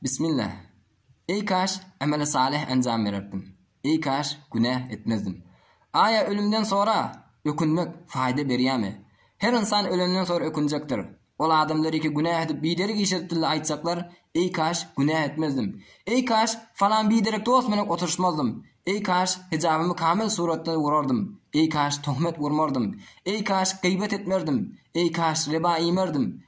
Bismillah! Eý kaş, emeli salyh enjam bererdim! Eý kaş, günäh etmezdim! Aýa ölümden sora, ökünmek, faýda berýämi? Her ynsan ölenden sora ökünjekdir. Ol adamlar eki günäh edip biderek iş edipdille aýtjaklar, Eý kaş, günäh etmezdim! Eý kaş, falan biderek dost bilen oturyşmazdym! Eý kaş, hijabymy kamyl suratda urardym! Eý kaş, tohmet urmardym! Eý kaş, gyýbat etmerdim! Eý kaş, riba iýmerdim!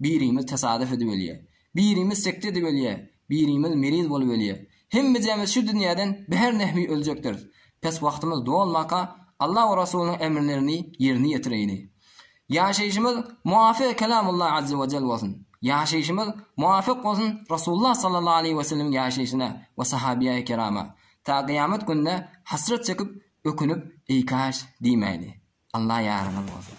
Birimiz tasadyf edip ölýär. Birimiz sekde edip ölýär. Birimiz meriz bolup ölýär. Hemmejemiz şu dünýäden bihar nahwi öljekdiris. Pes wagtymyz dolmaka, Alla we Rasulynyň emrlerini ýerine ýetireýli. Ýaşaýşymyz muwafyk Kelamullah Azze we Jell bolsun. Ýaşaýşymyz muwafyk bolsun Rasulullah sallallahu aleýhi we sellemiň ýaşaýşyna we sahabyýaýy kerama. Ta gyýamat gününe hasrat çekip, ökünip, eý kaş! diýmäýli. Alla ýaryňyz bolsun.